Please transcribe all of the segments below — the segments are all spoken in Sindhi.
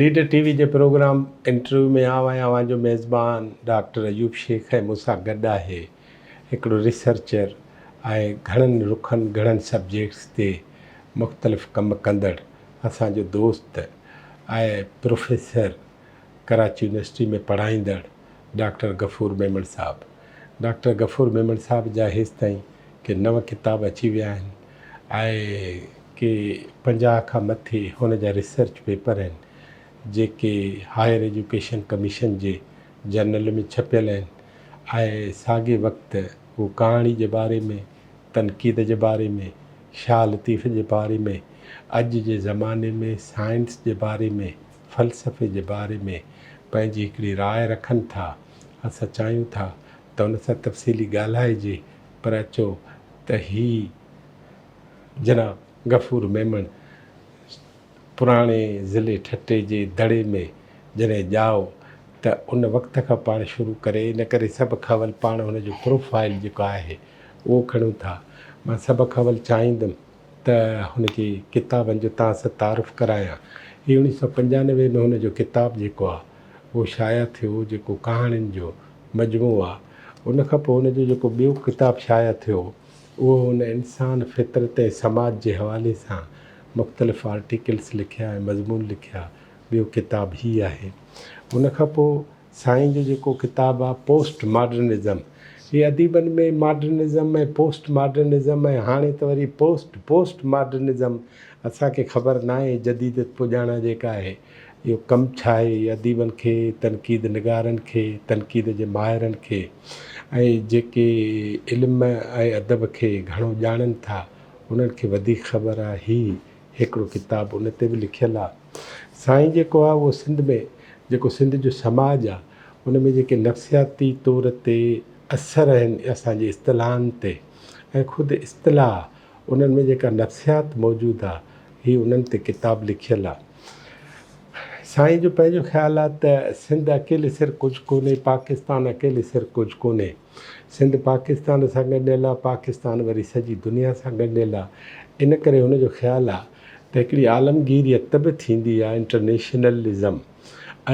ليڊر ٽي وي جي پروگرام انٽرويو ۾ آئون ۽ اوهان جو ميزبان ڊاڪٽر ايوب شيخ ۽ مون سان گڏ آهي هڪڙو ريسرچر ۽ گهڻن رخن گهڻن سبجيڪٽس تي مختلف ڪم ڪندڙ اسان جو دوست ۽ پروفيسر ڪراچي يونيورسٽي ۾ پڙهائيندڙ ڊاڪٽر غفور ميمڻ صاحب ڊاڪٽر غفور ميمڻ صاحب جا هيستائين ڪي نو ڪتاب اچي ويا آهن آء ڪي پنجاهه کان مٿي هن جا ريسرچ پيپر آهن جيڪي هائر ايجوڪيشن ڪميشن جي جرنل ۾ ڇپيل آهن آء ساڳي وقت هو ڪهاڻي جي باري ۾ تنقيد جي باري ۾ شاهه لطيف جي باري ۾ اڄ جي زماني ۾ سائنس جي باري ۾ فلسفي جي باري ۾ پنهنجي هڪڙي راء رکن ٿا. اسان چاهيون ٿا ته ان سان تفصيلي ڳالهائجي پر اچو ته هي جناب غفور ميمڻ پراڻي ضلعي ٺٽي جي دڙي ۾ جڏهن ڄائو ته ان وقت کان پاڻ شروع ڪري ان ڪري سڀ کان اول پاڻ هن جو پروفائيل جيڪو آهي اهو کڻون ٿا. مان سڀ کان اول چاهيندم. ته هن کي ڪتابن جو توهان سان تعارف ڪرايان. هي اوڻيهه سؤ پنجانوي ۾ هن جو ڪتاب جيڪو آهي اهو شايع ٿيو جيڪو ڪهاڻين جو مجموعو آهي. ان کان پوء هن جو جيڪو ٻيو ڪتاب شايع ٿيو اهو هن انسان، فطرت ۽ سماج جي حوالي سان مختلف آرٽيڪلس لکيا ۽ مضمون لکيا. ٻيو ڪتاب هي آهي. ان کان پوء. سائين جو جيڪو ڪتاب آ پوسٽ ماڊرنزم هي اديبن ۾ ماڊرنزم ۽ پوسٽ ماڊرنزم ۽ هاڻي ته وري پوسٽ پوسٽ ماڊرنزم اسان کي خبر ناهي جديدت پڄاڻان جيڪا آهي اهو ڪم ڇا آهي هي اديبن کي تنقيد نگارن کي تنقيد جي ماهرن کي ۽ جيڪي علم ۽ ادب کي گهڻو ڄاڻن ٿا انهن کي وڌيڪ خبر آهي هي هڪڙو ڪتاب ان تي به لکيل آ سائين جيڪو آ اهو سنڌ ۾ جيڪو سنڌ جو سماج آ ان ۾ جيڪي نفسياتي طور تي اثر آهن اسان جي اصطلاحن تي ۽ خود اصطلاح انهن ۾ جيڪا نفسيات موجود آ هي انهن تي ڪتاب لکيل آ سائين جو پنهنجو خيال آ ته سنڌ اڪيلي سر ڪجھ ڪونهي پاڪستان اڪيلي سر ڪجھ ڪونهي. سنڌ پاڪستان سان ڳنڍيل آ، پاڪستان وري سڄي دنيا سان ڳنڍيل آ، ان ڪري هن جو خيال آ ته هڪڙي عالمگيريت به ٿيندي آ، انٽرنيشنلزم،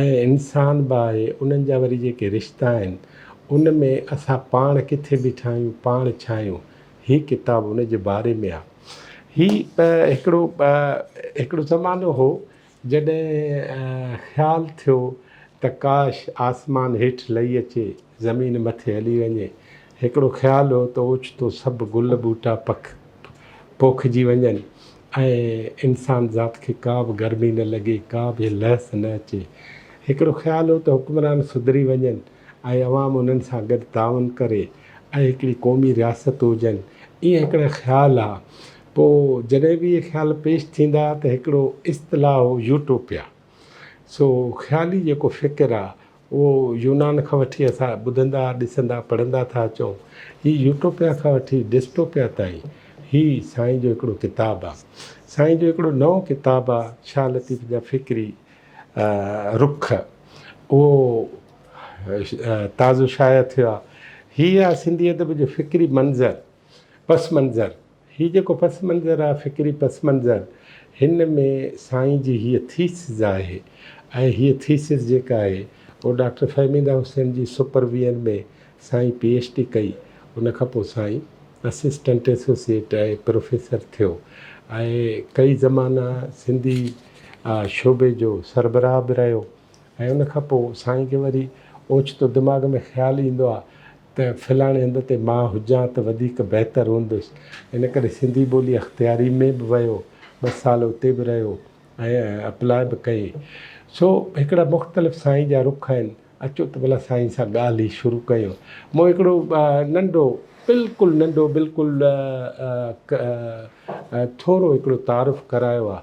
۽ انسان به آهي، انهن جا وري جيڪي رشتا آهن، ان ۾ اسان پاڻ ڪٿي بيٺا آهيون، پاڻ ڇا آهيون، هي ڪتاب ان جي باري ۾ آ. هي هڪڙو هڪڙو زمانو هو جڏهن خيال ٿيو ته ڪاش آسمان هيٺ لهي اچي زمين مٿي هلي وڃي. هڪڙو خيال هو ته اوچتو سڀ گل ٻوٽا پک پوکجي وڃن ۽ انسان ذات کي ڪا به گرمي نه لڳي، ڪا به لهس نه اچي. هڪڙو خيال هو ته حڪمران سڌري وڃن ۽ عوام انهن سان گڏ تعاون ڪري ۽ هڪڙي قومي رياست هجن. اهي هڪڙا خيال ها پوء جڏهن به اهي خيال پيش ٿيندا ته هڪڙو اصطلاح هو يوٽوپيا. سو خيالي جيڪو فڪر آ اهو يونان کان وٺي اسان ٻڌندا، ڏسندا، پڙهندا ٿا اچون. هي يوٽوپيا کان وٺي ڊسٽوپيا تائين هي سائين جو هڪڙو ڪتاب آ. سائين جو هڪڙو نئون ڪتاب آ شاهه لطيف جا فڪري رخ اهو تازو شايع ٿيو آ. هي آ سنڌي ادب جو فڪري منظر، پس منظر. هي جيڪو پس منظر آهي فڪري پس منظر هن ۾ سائين جي هيء ٿيسز آهي ۽ هيء ٿيسز جيڪا آهي اهو ڊاڪٽر فهميده حسين جي سپر ويئن ۾ سائين پي ايڇ ڊي ڪئي ان کان پوء سائين اسسٽنٽ ايسوسيئيٽ ۽ پروفيسر ٿيو ۽ ڪئي زمانا سنڌي شعبي جو سربراهه به رهيو ۽ ان کان پوء سائين کي وري اوچتو دماغ ۾ خيال ايندو آهي ته فلاڻي هنڌ تي مان هجان ته وڌيڪ بهتر هوندس، ان ڪري سنڌي ٻولي اختياري ۾ به ويو، ٻه سال اتي به رهيو ۽ اپلاء به ڪئي. سو هڪڙا مختلف سائين جا رخ آهن، اچو ته ڀلا سائين سان ڳالهه ئي شروع ڪيون. مون هڪڙو ننڍو بلڪل ننڍو بلڪل ٿورو هڪڙو تعارف ڪرايو آهي،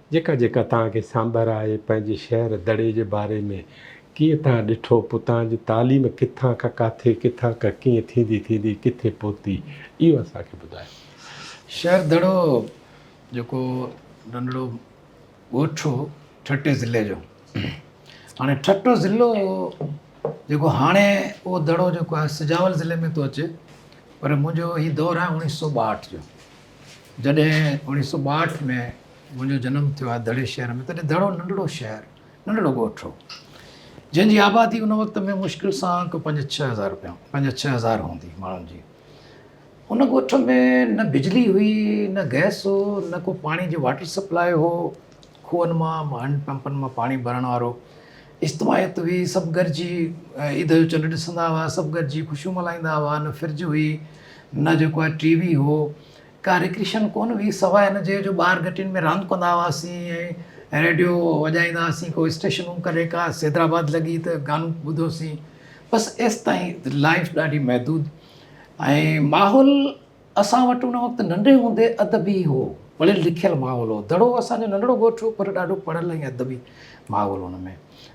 جيڪا جيڪا تان کي سانڀر آهي پنهنجي شهر دڙي جي باري ۾ ڪيئن تان ڏٺو پو تان جي تعليم ڪٿان کان ڪاٿي ڪٿان کان ڪيئن ٿيندي ٿيندي ڪٿي پهتي اهو اسان کي ٻڌايو شهر دڙو جيڪو ننڍڙو ڳوٺ هو ٺٽي ضلعي جو هاڻي ٺٽو ضلعو جيڪو هاڻي اهو دڙو جيڪو آهي سجاول ضلعي ۾ ٿو اچي پر منهنجو هي دور آهي اوڻيهه سو ٻاهٺ جو جڏهن اڻيهه سؤ ٻاهٺ ۾ منهنجو جنم ٿيو آهي دڙي شهر ۾ تڏهن دڙو ننڍڙو شهر ننڍڙو ڳوٺ هو جنهن جي آبادي ان وقت ۾ مشڪل سان ڪو پنج ڇهه هزار روپيا پنج ڇهه هزار هوندي ماڻهن جي ان ڳوٺ ۾ نه بجلي هئي نه گئس هو نه ڪو پاڻي جو واٽر سپلاء هو کوهن مان هينڊ پمپن مان پاڻي ڀرڻ وارو استوايت هئي، سڀ گڏجي عيد جو چنڊ ڏسندا هئا، سڀ گڏجي خوشيون ملهائيندا هئا، نه فرج هئي، نه جيڪو آهي ٽي وي هو، ڪا رڪريشن ڪونه هئي، سواء ان جي جو ٻار گهٽين ۾ راند ڪندا هئاسين ۽ ريڊيو وڄائيندا هئاسين، ڪو اسٽيشنون ڪڏهن ڪا سيدرآباد لڳي ته گانو ٻڌوسين، بس ايستائين لائيف ڏاڍي محدود ۽ ماحول اسان وٽ ان وقت ننڍي هوندي ادب ئي هو، وڙي لکيل ماحول هو. دڙو اسان جو ننڍڙو ڳوٺ هو پر ڏاڍو پڙهيل ۽ ادبي ماحول هو ان ۾.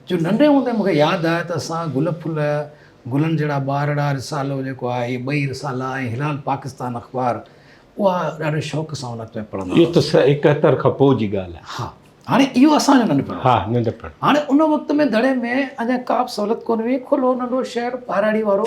جو ننڍي هوندي مون کي ياد آهي ته اسان گل ڦل، گلن جهڙا ٻارڙا، رسالو جيڪو آهي، اهي ٻئي رسالا ۽ هلال پاڪستان اخبار اها ڏاڍي شوق سان ان وقت ۾ پڙهندا هئاسين. اهو ته سنه اڪهتر کان پوء جي ڳالهه آهي. ها. هاڻي اهو اسان جو ننڍپڻ هو. ها. ننڍپڻ. هاڻي ان وقت ۾ دڙي ۾ اڃا ڪا به سهولت ڪونه هئي، کلو ننڍو شهر ٻهراڙي وارو.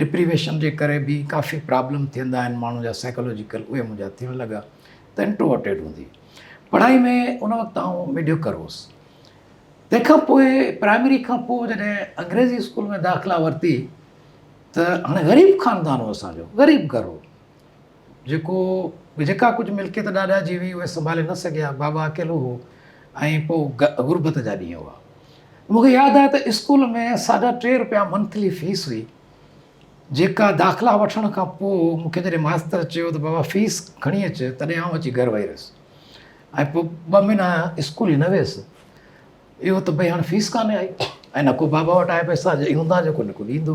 ڊپريويشن جي ڪري به ڪافي پرابلم ٿيندا آهن ماڻهو جا سائيڪالوجيڪل اهي منهنجا ٿيڻ لڳا ته انٽروورٽيڊ هوندي پڙهائي ۾ ان وقت آئون ميڊيوڪر هوس تنهن کان پوء پرائمري کان پوء جڏهن انگريزي اسڪول ۾ داخلا ورتي ته هاڻي غريب خاندان هو اسانجو غريب گهر هو جيڪو به جيڪا ڪجهه ملڪيت ڏاڏا جي هئي، اهي سنڀالي نه سگهيا. بابا اڪيلو هو ۽ پوء غربت جا ڏينهن هئا. مون کي ياد آهي ته اسڪول ۾ ساڍا ٽي رپيا منٿلي فيس هئي، جيڪا داخلا وٺڻ کان پوء مون کي جڏهن ماستر چيو ته بابا فيس کڻي اچ، تڏهن آئون اچي گهر ويهي رهيس ۽ پوء ٻه مهينا اسڪول ئي نه ويس. اهو ته ڀئي هاڻي فيس ڪانه آئي ۽ نه ڪو بابا وٽ آيا پئسا، جي هوندا جيڪو نڪو ڏيندو.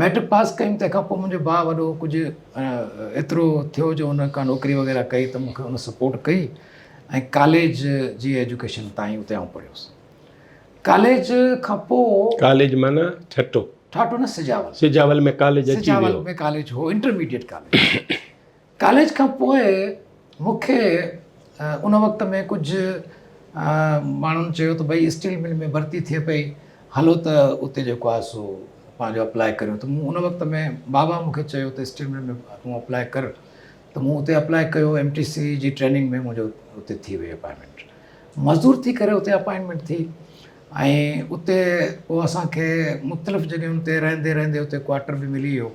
مئٽرڪ پاس ڪيم تنهن کان پوء منهنجو ڀاء وڏو ڪجهه ايترو ٿيو جو ان ڪا نوڪري وغيره ڪئي ته مونکي ان سپورٽ ڪئي ۽ ڪاليج جي ايجوڪيشن تائين اتي آئون پڙهيو هوس ڪاليج کان پوء ڪاليج معنيٰ ٺٽو ٺاٽو نه سجاول سجاول ۾ ڪاليج اچي ويو سجاول ۾ ڪاليج هو انٽرميڊيٽ ڪاليج ڪاليج کان پوء مون کي ان وقت ۾ ڪجهه ماڻهن چيو ته ڀئي اسٽيل مل ۾ ڀرتي ٿئي پئي هلو ته اتي جيڪو آهي سو پنهنجو اپلائي ڪريون ته مون ان وقت ۾ بابا مون کي چيو ته اسٽيل مل ۾ تون اپلائي ڪر ته مون اتي اپلائي ڪيو ايم ٽي سي جي ٽريننگ ۾ منهنجو اتي ٿي وئي اپائنٽمينٽ مزدور ٿي ڪري اتي اپائنٽمينٽ ٿي ۽ اتي پوء اسانکي مختلف جڳهيون تي رهندي رهندي اتي ڪواٽر به ملي ويو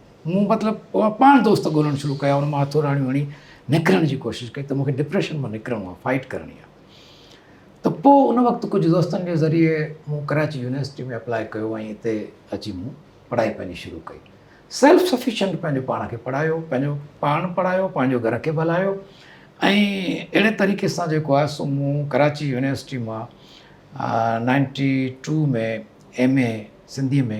مون مطلب پاڻ دوست ڳولڻ شروع ڪيا ان مان هٿوراڻيون هڻي نڪرڻ جي ڪوشش ڪئي ته مونکي ڊپريشن مان نڪرڻو آهي فائٽ ڪرڻي آهي ته پوء ان وقت ڪجهه دوستن جي ذريعي مون ڪراچي يونيورسٽي ۾ اپلاء ڪيو ۽ هتي اچي مون پڙهائي پنهنجي شروع ڪئي سيلف سفيشنٽ پنهنجو پاڻ کي پڙهايو پنهنجو پاڻ پڙهايو پنهنجو گهر کي به هلايو ۽ اهڙي طريقي سان جيڪو آهي سو مون ڪراچي يونيورسٽي مان ninety two ۾ M A Sindhi ۾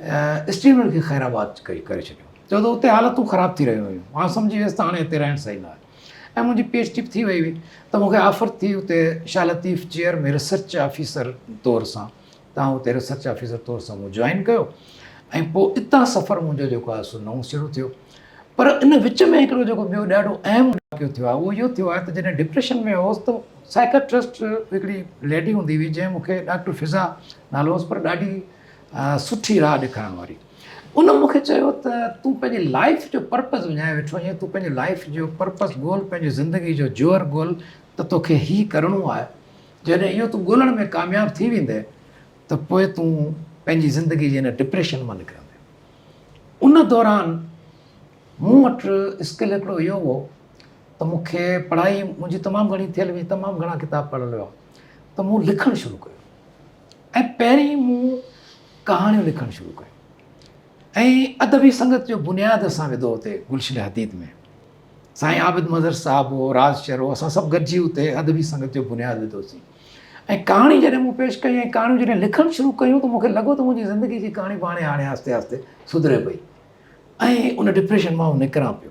stadium کي خيرآباد ڪري ڇڏيو. ڇو ته اتي حالتون خراب ٿي رهيون هيون. آئون سمجهي ويس ته هاڻي هتي رهڻ صحيح نه آهي ۽ منهنجي پي ايڇ ڊي به ٿي وئي هئي ته مون کي آفر ٿي اتي Shah Latif chair ۾ research officer طور سان ته آئون اتي ريسرچ آفيسر طور سان مون جوائن ڪيو ۽ پوء اتان سفر منهنجو جيڪو آهي سو نئون سرو ٿيو. پر ان وچ ۾ هڪڙو جيڪو ٻيو ڏاڍو اهم واقعو ٿيو آهي اهو اهو ٿيو آهي ته جڏهن ڊپريشن ۾ هوس ته سائيڪاٽرسٽ هڪڙي ليڊي هوندي هئي جنهن مون کي ڊاڪٽر فضا نالو هوس پر ڏاڍي سٺي راهه ڏيکارڻ واري ان مون کي چيو ته تون پنهنجي لائف جو پرپز وڃائي ويٺو آهين تون پنهنجي لائف جو پرپز ڳول پنهنجي زندگي جو جوهر ڳول ته توکي هي ڪرڻو آهي جڏهن اهو تون ڳولڻ ۾ ڪامياب ٿي ويندي ته پوء تون پنهنجي زندگي جي هن ڊپريشن مان نڪرندي ان دوران مون وٽ اسڪل هڪڙو اهو هو ته مون کي پڙهائي منهنجي تمام گهڻي ٿيل هئي تمام گهڻا ڪتاب پڙهيل هئا ته مون لکڻ شروع ڪيو ۽ پهرين مون ڪهاڻيون لکڻ شروع ڪيون ۽ ادبي سنگت جو بنياد اسان وڌو اتي گلشن حديد ۾ سائين عابد مظهر صاحب هو راز شهر هو اسان سڀ گڏجي اتي ادبي سنگت جو بنياد وڌوسين ۽ ڪهاڻي جڏهن مون پيش ڪيون ۽ ڪهاڻيون جڏهن لکڻ شروع ڪيون ته مونکي لڳو ته منهنجي زندگي جي ڪهاڻي پاڻي هاڻي آهستي آهستي سڌري پئي ۽ ان ڊپريشن مان نڪران پيو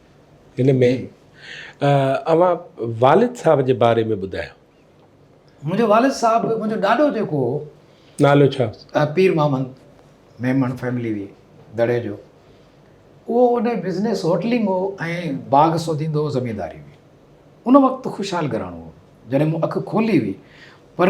هن ۾ اوهان والد صاحب جي باري ۾ ٻڌايو. منهنجو والد صاحب منهنجو ڏاڏو جيڪو هو. نالو ڇا هوس؟ پير محمد ميمڻ فيملي هئي دڙي جو. اهو ان جو بزنس هوٽلنگ هو ۽ باغ سوڌيندو هو زمينداري هئي. ان وقت خوشحال گهراڻو هو. جڏهن مون اک کولي هئي پر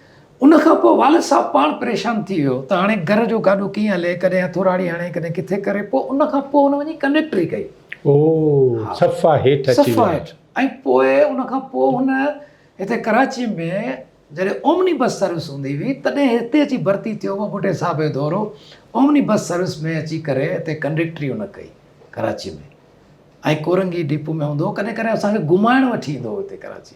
ان کان پوء والد صاحب پاڻ پريشان ٿي ويو ته هاڻي گهر جو گاڏو ڪيئن هلي، ڪڏهن هٿوراڙي هڻي ڪڏهن ڪٿي ڪري، پوء ان کان پوء هن وڃي ڪنڊڪٽري ڪئي. او صفا هيٺ اچي ويو. صفا هيٺ ۽ پوء ان کان پوء هن هتي ڪراچي ۾ جڏهن اومني بس سروس هوندي هئي تڏهن هتي اچي ڀرتي ٿيو هو ٻڍي صاحب جو دورو اومني بس سروس ۾ اچي ڪري هتي ڪنڊڪٽري هن ڪئي ڪراچي ۾ ۽ ڪورنگي ڊيپو ۾ هوندو هو ڪڏهن ڪڏهن اسان کي گهمائڻ وٺي ايندو هو هتي ڪراچي.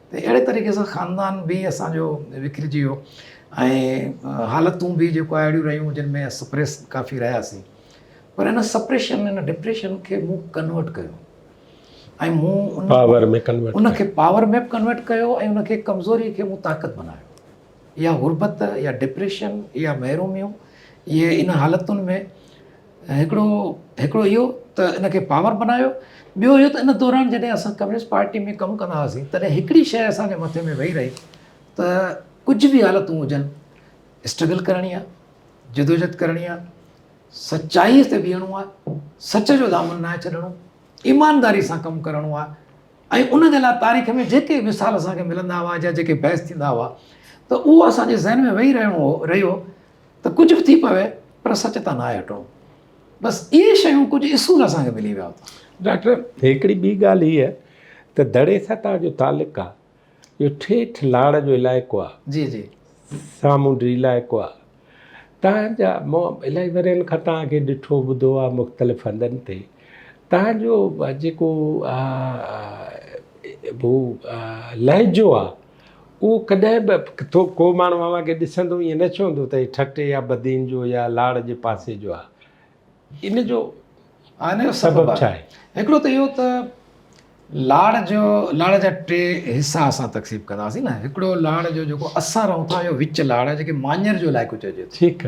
ته اهڙي طريقي سان خاندان به اسان جو وکرجي ويو ۽ حالتون به جيڪو آهي اهڙيون رهيون جن ۾ سپريس ڪافي رهياسين پر هن سپريشن هن ڊپريشن کي مون ڪنورٽ ڪيو ۽ مون ان پاور ۾ ڪنورٽ ان کي پاور ۾ ڪنورٽ ڪيو ۽ ان کي ڪمزوري کي مون طاقت بنايو يا غربت يا ڊپريشن يا محروميون اهي ان حالتن ۾ هڪڙو هڪڙو اهو ته ان کي پاور بنايو، ٻيو اهو ته ان دوران جڏهن اسان ڪميونسٽ پارٽي ۾ ڪم ڪندا هئاسين تڏهن هڪڙي شيء اسان جي مٿي ۾ ويهي رهي ته ڪجهه به حالتون هجن اسٽرگل ڪرڻي آهي، جدوجھد ڪرڻي آهي، سچائي تي بيهڻو آهي، سچ جو دامن ناهي ڇڏڻو، ايمانداري سان ڪم ڪرڻو آهي ۽ ان جي لاء تاريخ ۾ جيڪي مثال اسان کي ملندا هئا جا جيڪي بحث ٿيندا هئا ته اهو اسان جي ذهن ۾ ويهي رهڻو هو رهيو ته ڪجهه به ٿي پوي پر سچ تان ناهي هٽڻو بس اهي شيون ڪجهه اصول اسان کي ملي ويا اٿن ڊاڪٽر هڪڙي ٻي ڳالهه هيء ته دڙي ستا جو تعلق آهي جو ٺيٺ لاڙ جو علائقو آهي جي جي سامونڊي علائقو آهي تان جا مون الائي ورهين کان تان کي ڏٺو ٻڌو آهي مختلف هنڌن تي تان جو جيڪو هو لهجو آهي اهو ڪڏهن به ٿو ڪو ماڻهو اوهان کي ڏسندو ائين نه چوندو ته هي ٺٽي يا بدين جو يا لاڙ جي پاسي جو آهي ان جو سبب ڇا آهي؟ هڪڙو ته اهو ته لاڙ جو لاڙ جا ٽي حصا اسان تقسيم ڪنداسين نه هڪڙو لاڙ جو جيڪو اسان رهون ٿا اهو وچ لاڙ جيڪي ماڃر جو علائقو چئجي ٿو ٺيڪ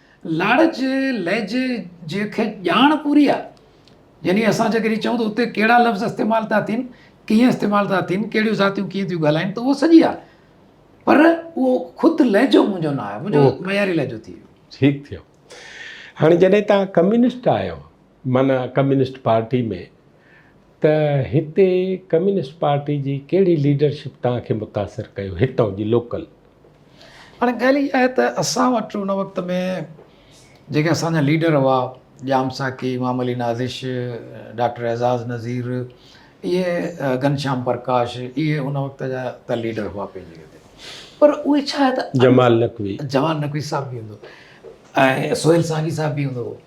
لاڙج لهجي جي کي ڄاڻ پوري آ يعني اسان جي ڪري چئون ته اتي ڪهڙا لفظ استعمال ٿا ٿين ڪيئن استعمال ٿا ٿين ڪهڙيون ذاتيون ڪيئن ٿيون ڳالهائين ته اهو سڄي آ پر اهو خود لهجو منهنجو نه آهي منهنجو معياري لهجو ٿي ويو ٺيڪ ٿيو هاڻي جڏهن تان ڪميونسٽ آهيو معنيٰ ڪميونسٽ پارٽي ۾، ته هتي ڪميونسٽ پارٽي جي ڪهڙي ليڊرشپ توهان کي متاثر ڪيو هتان جي لوڪل؟ هاڻي ڳالهه اها آهي ته اسان وٽ ان وقت ۾ جيڪي اسان جا ليڊر هئا ڄام ساقي، امام علي نازش، ڊاڪٽر اعزاز نذير، اهي گهنشام پرڪاش، اهي ان وقت جا ته ليڊر هئا پنهنجي جڳهه تي پر اهي ڇا آهي ته جمال نقوي، جمال نقوي صاحب به هوندو ۽ سهيل سانگي صاحب به هوندو هو.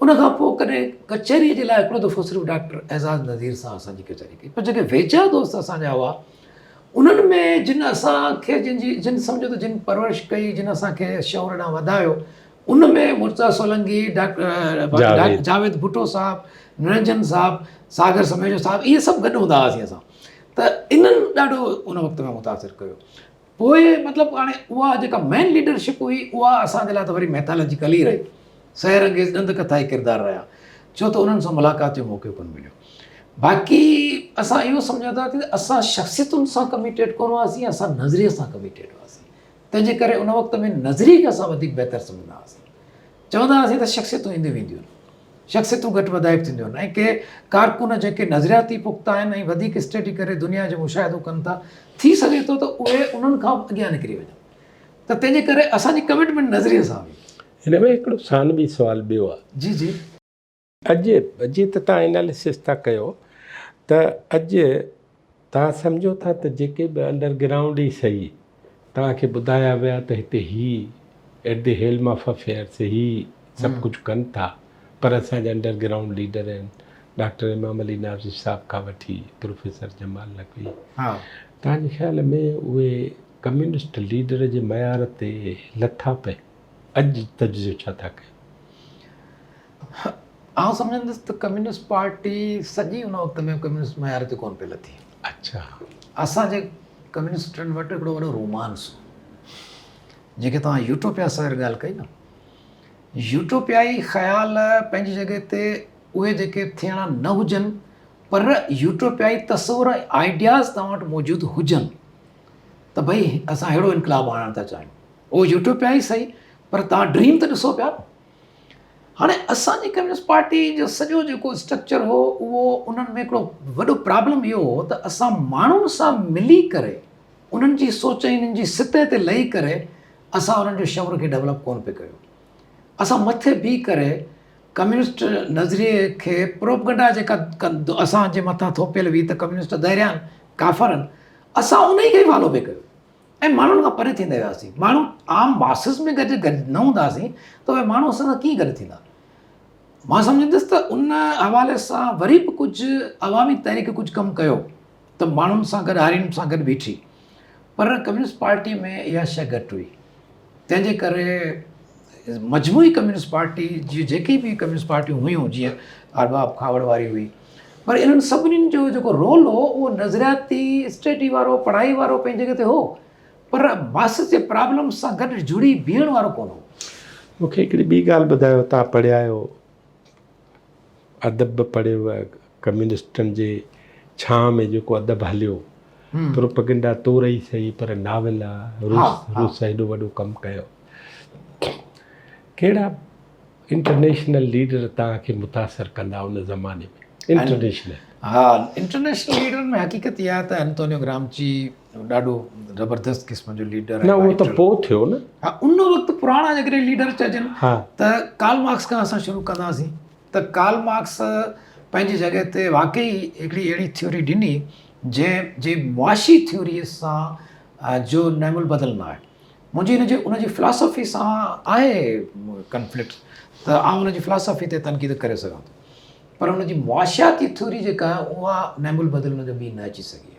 ان کان پوء ڪڏهن ڪچهريء جي لاء هڪڙو دفعو صرف ڊاڪٽر اعزاز نذير سان اسان جي ڪچهري ڪئي پر جيڪي ويجها دوست اسان جا هئا انهن ۾ جن اسان کي جن جي جن سمجهو ته جن پرورش ڪئي جن اسان کي شعور ڏانهن وڌايو ان ۾ مرزا سولنگي ڊاڪٽر جاويد ڀٽو صاحب نرنجن صاحب ساگر سميجو صاحب اهي سڀ گڏ هوندا هئاسين اسان ته انهن ڏاڍو ان وقت ۾ متاثر ڪيو پوء مطلب هاڻي اها جيڪا مين ليڊرشپ هئي اها اسان جي لاء ته وري ميٿالاجيڪل ئي رهي، سحر انگيز ڏند ڪٿائي ڪردار رهيا، ڇو ته انهن سان ملاقات جو موقعو ڪونه مليو. باقي اسان اهو سمجهون ٿا ته اسان شخصيتن سان ڪميٽيڊ ڪونه هئاسين، اسان نظريي سان ڪميٽيڊ هئاسين، تنهن جي ڪري ان وقت ۾ نظريي کي اسان وڌيڪ بهتر سمجهندا هئاسين، چوندا هئاسين ته شخصيتون اينديون وينديون آهن. شخصيتون گهٽ وڌائپ ٿينديون آهن ۽ ڪي ڪارڪن جيڪي نظرياتي پختا آهن ۽ وڌيڪ اسٽڊي ڪري دنيا جو مشاهدو ڪن ٿا، ٿي سگهي ٿو ته اهي انهن کان به اڳيان نڪري وڃن ته تنهن جي ڪري اسان جي ڪمٽمينٽ نظريي سان هئي. هن ۾ هڪڙو ثانوي سوال ٻيو آهي. جي جي. اڄ جي ته توهان اناليسس ٿا ڪيو ته اڄ توهان سمجهو ٿا ته جيڪي به انڊر گرائونڊ ئي سهي توهان کي ٻڌايا ويا ته هتي هي At the Helm of Affairs هي سڀ ڪجهه ڪن ٿا پر اسان جا انڊر گرائونڊ ليڊر آهن ڊاڪٽر امام علي ناظر صاحب کان وٺي پروفيسر جمال نقوي توهان جي خيال ۾ اهي ڪميونسٽ ليڊر جي معيار تي لٿا پئي. اڄ جي تجزيو ڇا ٿا ڪيو؟ آئون سمجهندس ته ڪميونسٽ پارٽي سڄي ان وقت ۾ ڪميونسٽ معيار تي ڪون پئي لٿي اچھا اسان جي ڪميونسٽن وٽ هڪڙو وڏو رومانس هو جيڪي توهان يوٽوپيا سر ڳالهه ڪئي نه يوٽوپيائي خيال پنهنجي جڳه تي اهي جيڪي ٿيڻا نه هجن پر يوٽوپيائي تصور آئيڊياز توهان وٽ موجود هجن ته ڀئي اسان اهڙو انقلاب آڻڻ ٿا چاهيون اهو يوٽيوب پيا ئي سهي پر تهان ڊريم ته ڏسو پيا هاڻي اسان جي ڪميونسٽ پارٽي جو سڄو جيڪو اسٽرڪچر هو اهو انهن ۾ هڪڙو وڏو پرابلم اهو هو ته اسان ماڻهن سان ملي ڪري انهن جي سوچ ۽ انهن جي سطح تي لهي ڪري اسان انهن جو شعور کي ڊيولپ ڪونه پئي ڪيو اسان مٿي بيهي ڪري ڪميونسٽ نظريي کي پروپگنڊا جيڪا اسان جي مٿان ٿوپيل هئي ته ڪميونسٽ دهريا آهن ڪافر آهن اسان ان ئي کي ئي فالو پئي ڪيو ۽ ماڻهن کان پري ٿيندا وياسين ماڻهو عام ماسز ۾ گڏ گڏ نه هونداسين ته اهي ماڻهو اسان سان ڪيئن گڏ ٿيندا مان سمجهندس ته ان حوالي سان وري به ڪجهه عوامي تحريڪ ڪجهه ڪم ڪيو ته ماڻهن سان گڏ هارين سان گڏ بيٺي پر ڪميونسٽ پارٽي ۾ اها شيء گهٽ هئي تنهن جي ڪري مجموعي ڪميونسٽ پارٽي جي جيڪي به ڪميونسٽ پارٽيون هيون جيئن ارباب کاوڙ واري هئي پر انهن سڀني جو جيڪو رول هو اهو نظرياتي اسٽيڊي وارو پڙهائي وارو پنهنجي جڳهه تي هو پر ماس جي پرابلم سان گڏ جڙي بيهڻ وارو ڪونه هو مونکي هڪڙي ٻي ڳالهه ٻڌايو تان پڙهيا آهيو ادب به پڙهيو ويو ڪميونسٽن جي ڇانهه ۾ جيڪو ادب هليو پروپگنڊا تور ئي سهي پر ناول روس روس هيڏو وڏو ڪم ڪيو ڪهڙا انٽرنيشنل ليڊر تان کي متاثر ڪندا ان زماني ۾ انٽرنيشنل ها انٽرنيشنل ليڊر ۾ حقيقت اها ته انتونيو گرامچي ڏاڍو زبردست قسم جو ليڊر نه اهو ته پوء ٿيو نه ها ان وقت پراڻا جيڪڏهن ليڊر چئجن ته ڪارل مارڪس کان اسان شروع ڪنداسين ته ڪارل مارڪس پنهنجي جڳهه تي واقعي هڪڙي اهڙي ٿيوري ڏني جنهن جي معاشي ٿيوريء سان جو نعم البدل نه آهي منهنجي ان جي ان جي فلاسفي سان آهي ڪنفلڪٽ ته آئون ان جي فلاسفي تي تنقيد ڪري سگهان ٿو پر ان جي معاشياتي ٿيوري جيڪا اها نعم البدل ان جو ٻي نه اچي سگهي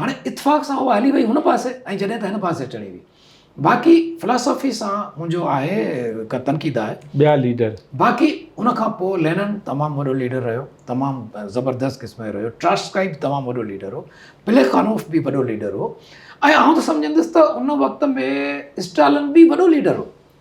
هاڻي اتفاق سان اها هلي وئي هن پاسي ۽ جڏهن ته هن پاسي چڙهي وئي باقي فلاسافي سان منهنجو آهي ڪا تنقيد آهي ٻيا ليڊر باقي ان کان پوء لينن تمام وڏو ليڊر رهيو تمام زبردست قسم جو رهيو ٽراسڪائي به تمام وڏو ليڊر هو پليخانوف به وڏو ليڊر هو ۽ آئون ته سمجهندس ته ان وقت ۾ اسٽالن به وڏو ليڊر هو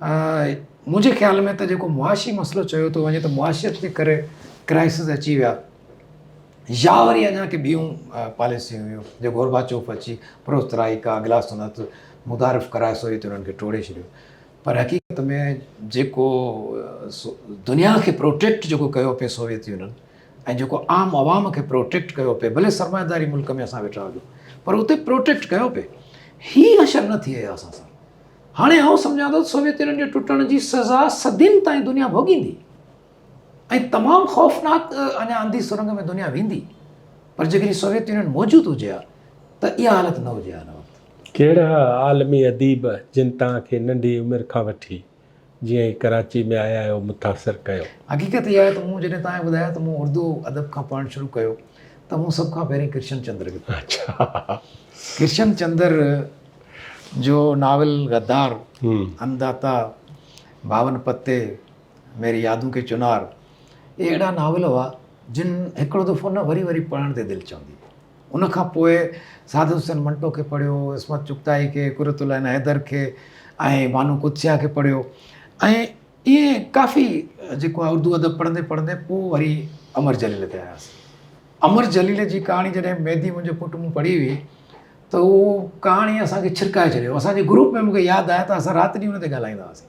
منهنجي خيال ۾ ته جيڪو معاشي مسئلو چيو ٿو وڃي ته معاشيت جي ڪري ڪرائسز اچي ويا يا وري اڃا ڪي ٻيون پاليسيون هيون جو گوربا چوف اچي پروسترائي کا گلاس سنت متعارف ڪرائي سوري تي انهن کي ٽوڙي ڇڏيو پر حقيقت ۾ جيڪو دنيا کي پروٽيڪٽ جيڪو ڪيو پئي سوويت يونين ۽ جيڪو عام عوام کي پروٽيڪٽ ڪيو پئي ڀلي سرمائيداري ملڪ ۾ اسان ويٺا هجو پر اتي پروٽيڪٽ ڪيو پئي هي اشر نه ٿئي اسان سان هاڻي آئون سمجهان ٿو ته سوويت يونين جي ٽٽڻ جي سزا صدين تائين دنيا ڀوڳيندي ۽ تمام خوفناڪ اڃا انڌي سرنگ ۾ دنيا ويندي پر جيڪڏهن سوويت يونين موجود هجي ها ته اها حالت نه هجي ها ان وقت. ڪهڙا عالمي اديب جن توهان کي ننڍي عمر کان وٺي جيئن ئي ڪراچي ۾ آيا آهيو متاثر ڪيو. حقيقت اها آهي ته مون جڏهن توهان کي ٻڌايو ته مون اردو ادب کان پڙهڻ شروع ڪيو ته مون سڀ کان پهرين ڪرشن چندر کي پڙهيو. ڪرشن چندر جو ناول غدار، ان داتا، باون پتي، ميري يادون ڪي چنار اهي اهڙا ناول هئا جن هڪڙو دفعو نه وري وري پڙهڻ تي دل چوندي هئي. ان کان پوء سعادت حسين منٽو کي پڙهيو، عصمت چغتائي کي، قرت العين حيدر کي ۽ بانو قدسيه کي پڙهيو ۽ ائين ڪافي جيڪو آهي اردو ادب پڙهندي پڙهندي پوء وري امر جليل تي آياسين. امر جليل جي ڪهاڻي جڏهن ميدي منهنجو پٽ مون پڙهي هئي ته اهو ڪهاڻي اسان کي ڇرڪائي ڇڏيو. اسان جي گروپ ۾ مون کي ياد آهي ته اسان رات ڏينهن ان تي ڳالهائيندا هئاسين.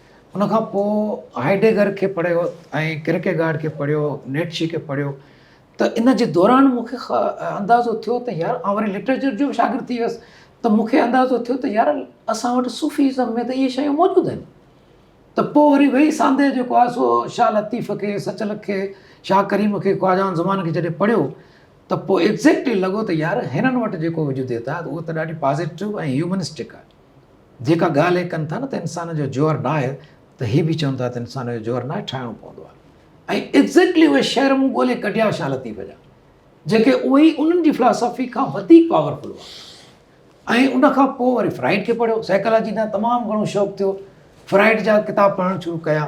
ان کان پوء هائيڊيگر کي پڙهيو ۽ ڪرڪيگارڊ کي پڙهيو، نيٽشي کي پڙهيو ته ان جي دوران مون کي اندازو ٿيو ته يار آئون وري لٽريچر جو به شاگرد ٿي ويس ته مون کي اندازو ٿيو ته يار اسان وٽ صوفي ازم ۾ ته اهي شيون موجود آهن ته پوء وري ويهي ساندهه جيڪو آهي سو شاهه لطيف کي، سچلڪ کي، شاهه ڪريم کي، خواجه عام زمان کي جڏهن پڙهيو ته پوء ايگزيڪٽلي لڳو ته يار هنن وٽ جيڪو وجوديت آهي اهو ته ڏاڍي پازيٽو ۽ هيومنسٽڪ آهي. جيڪا ڳالهه هي ڪن ٿا نه ته انسان جو جوهر ناهي ته هي به چون ٿا ته انسان جو جوهر ناهي ٺاهڻو پوندو آهي ۽ ايگزيڪٽلي اهي شعر مون ڳولي ڪڍيا شاهه لطيف جا جيڪي اهي ئي انهن جي فلاسافي کان وڌيڪ پاورفل هئا ۽ ان کان پوء وري فرائيڊ کي پڙهيو سائيڪالاجي ڏانهن تمام گهڻو شوق ٿيو فرائيڊ جا ڪتاب پڙهڻ شروع ڪيا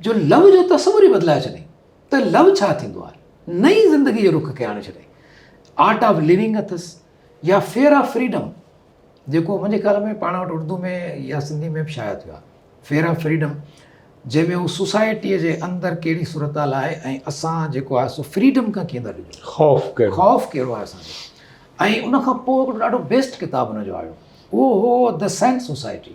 جو لو جو تصور ئي بدلائي ڇڏي ته لو ڇا ٿيندو آهي نئين زندگي جي رخ کي آڻي ڇڏي آرٽ آف ليونگ اٿس يا فيئر آف فريڊم جيڪو منهنجي خيال ۾ پاڻ وٽ اردو ۾ يا سنڌي ۾ به شايع ٿيو آهي فيئر آف فريڊم جنهن ۾ هو سوسائٽيء جي اندر ڪهڙي صورتحال آهي ۽ اسان جيڪو آهي سو فريڊم کان ڪيئن ٿا ڊڄون خوف ڪهڙو خوف ڪهڙو آهي اسان جو ۽ ان کان پوء هڪڙو ڏاڍو بيسٽ ڪتاب هن جو آيو اهو هو د سينٽ سوسائٽي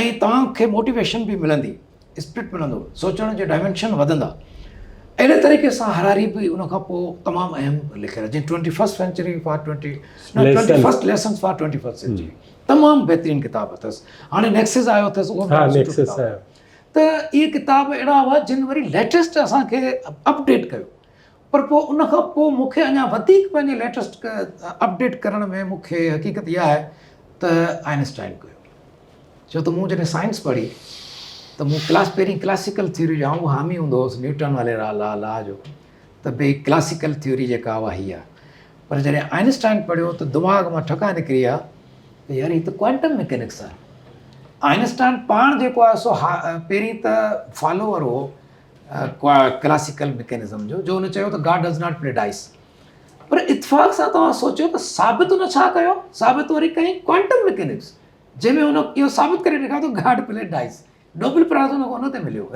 ۽ توهان کي موٽيويشن به ملندي اسپرٽ ملندو سوچڻ جي ڊائمينشن وڌندا اهڙي طريقي سان هراري به ان کان پوء تمام اهم لکيل جنهن twenty first century for twenty twenty first lessons for twenty first century تمام بهترين کتاب اٿس هاڻي نيڪسز آيو اٿس اهو ته اهي کتاب اهڙا هئا جن وري ليٽيسٽ اسان کي اپڊيٽ ڪيو پر پوء ان کان پوء مون کي اڃا وڌيڪ پنهنجي ليٽسٽ اپڊيٽ ڪرڻ ۾ مون کي حقيقت اها آهي ته آئنسٽائن ڪيو ڇو ته مون جڏهن سائنس پڙهي ته مون ڪلاس پهرين ڪلاسيڪل ٿيوري جو آئون حامي هوندو هوس نيوٽن والي را لا لا جو ته بي ڪلاسيڪل ٿيوري جيڪا اها هي آهي پر جڏهن آئنسٽائن پڙهيو ته دماغ مان ٺڪا نڪري آ ته يار هي ته ڪوانٽم ميڪينڪس آهي آئنسٽائن پاڻ جيڪو آهي سو پهرين ته فالوور هو ڪلاسيڪل ميڪنزم جو جو هن چيو ته God does not play dice پر اتفاق سان توهان سوچيو ته ثابت هن ڇا ڪيو ثابت وري ڪئي ڪوانٽم ميڪنڪس جنهن ۾ هن اهو ثابت ڪري ڏيکاريو ته God play dice Nobel prize هن هن تي مليو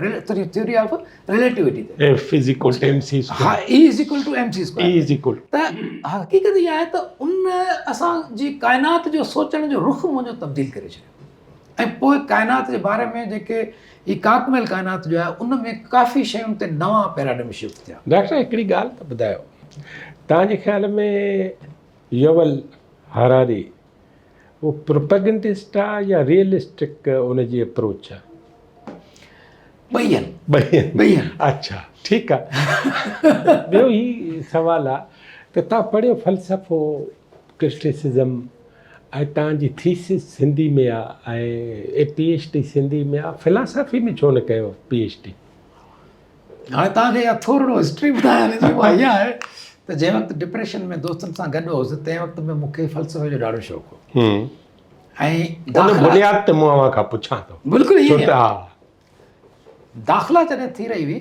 ٿيوري آف ريليٽيوٽي تي F is equal to M C square ها E is equal to M C square E is equal ته حقيقت اها آهي ته ان اسان جي ڪائنات جو سوچڻ جو رخ منهنجو تبديل ڪري ڇڏيو ۽ پوء ڪائنات جي باري ۾ جيڪي هي ڪانڪ ميل ڪائنات جو آهي ان ۾ ڪافي شين تي نوان پيراڊم شفٽ ٿيا. ڊاڪٽر صاحب هڪڙي ڳالهه ته ٻڌايو توهان جي خيال ۾ يوول هراري هو پروپيگنڊسٽ آ يا ريئلسٽڪ ان جي اپروچ آ؟ ٻئي آهن. ٻئي آهن. ٻئي آهن. اچھا ٺيڪ آ. ٻيو هي سوال آ ته توهان پڙهيو فلسفو ڪرٽيسزم ۽ تان جي ٿيسز سنڌي ۾ آ ۽ پي ايڇ ڊي سنڌي ۾ آ فلاسافي ۾ ڇو نه ڪيو پي ايڇ ڊي. هاڻي توهان کي اها ٿورڙو هسٽري ٻڌايان جي اها اها آهي ته جنهن وقت ڊپريشن ۾ دوستن سان گڏ هوس تنهن وقت ۾ مون کي فلسفي جو ڏاڍو شوق هو ۽ ان بنياد تي مون اوهان کان پڇان ٿو بلڪل ايئن داخلا جڏهن ٿي رهي هئي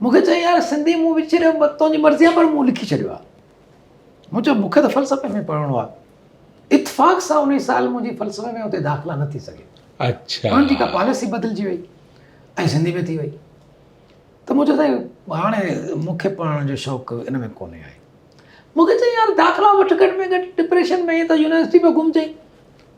مون کي چيائين يار سنڌي مون وچيري تنهنجي مرضي آهي پر مون لکي ڇڏيو آهي مون چيو مون کي ته فلسفي ۾ پڙهڻو آهي اتفاق سان ان سال منهنجي فلسفي ۾ اتي داخلا نه ٿي سگهي اچھا انهن جي ڪا پاليسي بدلجي وئي ۽ سنڌي ۾ ٿي وئي ته مون چيو سائين هاڻي مون کي پڙهڻ جو شوق ان ۾ ڪونهي آهي مون کي چيائين يار داخلا وٺ گهٽ ۾ گهٽ ڊپريشن ۾ ته يونيورسٽي پيو گهمجي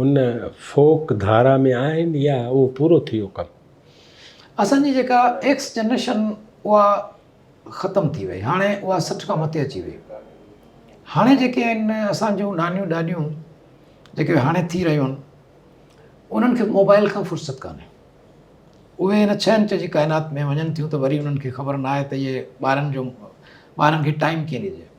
هن فوڪ ڌارا ۾ آهن يا اهو پورو ٿي ويو ڪم؟ اسان جي جيڪا ايڪس جنريشن اها ختم ٿي وئي هاڻي اها سٺ کان مٿي اچي وئي هاڻي جيڪي آهن اسان جون نانيون ڏاڏيون جيڪي هاڻي ٿي رهيون آهن انهن کي موبائل کان فرصت ڪانهي اهي هن ڇهه انچ جي ڪائنات ۾ وڃن ٿيون ته وري انهن کي خبر ناهي ته اهي ٻارن جو ٻارن کي ٽائم ڪيئن ڏجي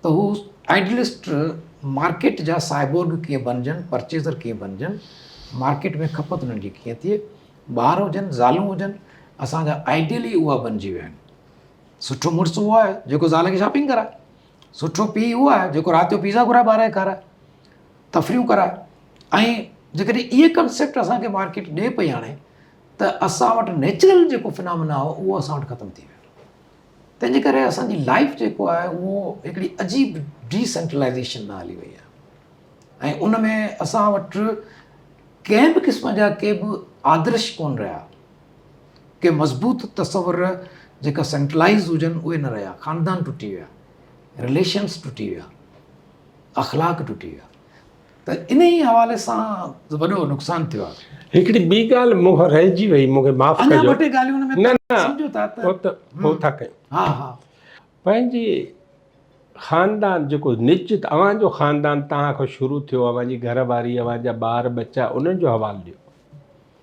ته هو آئيڊلسٽ مارڪيٽ جا سائبورگ ڪيئن بنجن، پرچيزر ڪيئن بنجن، مارڪيٽ ۾ کپت انهن جي ڪيئن ٿئي، ٻار هجن، زالون هجن، اسان جا آئيڊيل ئي اها بنجي ويا آهن. سٺو مڙس اهو آهي جيڪو زال کي شاپنگ ڪرائي، سٺو پيء اهو آهي جيڪو رات جو پيزا گهرائي ٻار کي کارائي، تفريحون ڪرائي ۽ جيڪڏهن اهي ڪنسيپٽ اسان کي مارڪيٽ ڏئي پئي آڻي ته اسان وٽ نيچرل جيڪو فنامنا هو اهو اسان وٽ ختم ٿي ويو. تنهنجي ڪري اسان جي لائيف جيڪو آهي اهو هڪڙي عجيب ڊي سينٽرلائيزيشن ۾ هلي وئي آهي ۽ ان ۾ اسان وٽ ڪنهن به قسم جا ڪي به آدرش ڪونه رهيا ڪي مضبوط تصور جيڪا سينٽرلائز هجن اهي نه رهيا خاندان ٽٽي ويا رليشنس ٽٽي ويا اخلاق ٽٽي ويا ته انهي حوالي سان وڏو نقصان ٿيو آهي. هڪڙي ٻي ڳالهه مون کان رهجي وئي مون کي معاف ڪجو. اڃا ٻه ٽي ڳالهيون ان ۾ نه سمجهو ٿا ته هو ته هو ٿا ڪيون. ها ها. پنهنجي خاندان جيڪو نشچت اوهان جو خاندان توهان کان شروع ٿيو اوهان جي گهر واري اوهان جا ٻار ٻچا انهن جو حوال ڏيو.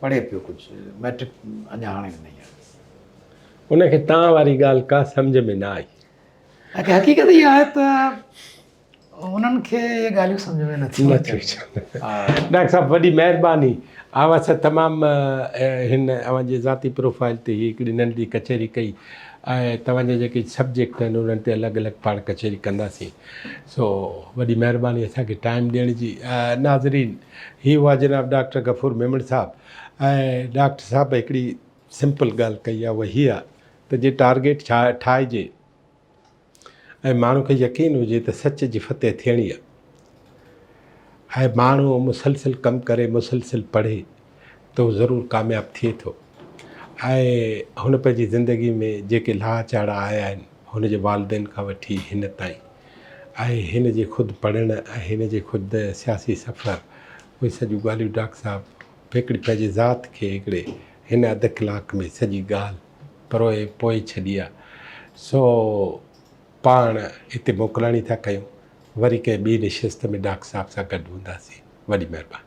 پڙهي پيو ڪجهه مئٽرڪ اڃا هاڻي ڏنئي آهي. ان کي تان واري ڳالهه ڪا سمجهه ۾ نه آئي. اڳي حقيقت اها آهي ته انهن کي اهي ڳالهيون سمجهه ۾ نٿيون اچن. ڊاڪٽر صاحب وڏي مهرباني. آئون اسان تمام هن اوهان جي ذاتي پروفائل تي هي هڪڙي ننڍي ڪچهري ڪئي ۽ توهان جا جيڪي سبجيڪٽ آهن انهن تي الڳ الڳ پاڻ ڪچهري ڪنداسين. سو وڏي مهرباني اسان کي ٽائيم ڏيڻ جي. ناظرين. هي هئا جناب ڊاڪٽر غفور ميمڻ صاحب ۽ ڊاڪٽر صاحب هڪڙي سمپل ڳالهه ڪئي آهي اها هيء آهي ته جي ٽارگيٽ ٺاهجي ۽ ماڻهو کي يقين هجي ته سچ جي فتح ٿيڻي آهي ۽ ماڻهو مسلسل ڪم ڪري مسلسل پڙهي ته هو ضرور ڪامياب ٿئي ٿو ۽ هن پنهنجي زندگي ۾ جيڪي لاها چاڙها آيا آهن هن جي والدين کان وٺي هن تائين ۽ هن جي خود پڙهڻ ۽ هن جي خود سياسي سفر اهي سڄيون ڳالهيون ڊاڪٽر صاحب پهڪڙي پنهنجي ذات کي هڪڙي هن اڌ ڪلاڪ ۾ سڄي ڳالهه پروئي پوئي ڇڏي آ سو پاڻ هتي موڪلاڻي ٿا ڪيون وري ڪنهن ٻي نشست ۾ ڊاڪٽر صاحب سان گڏ هونداسين وڏي مهرباني.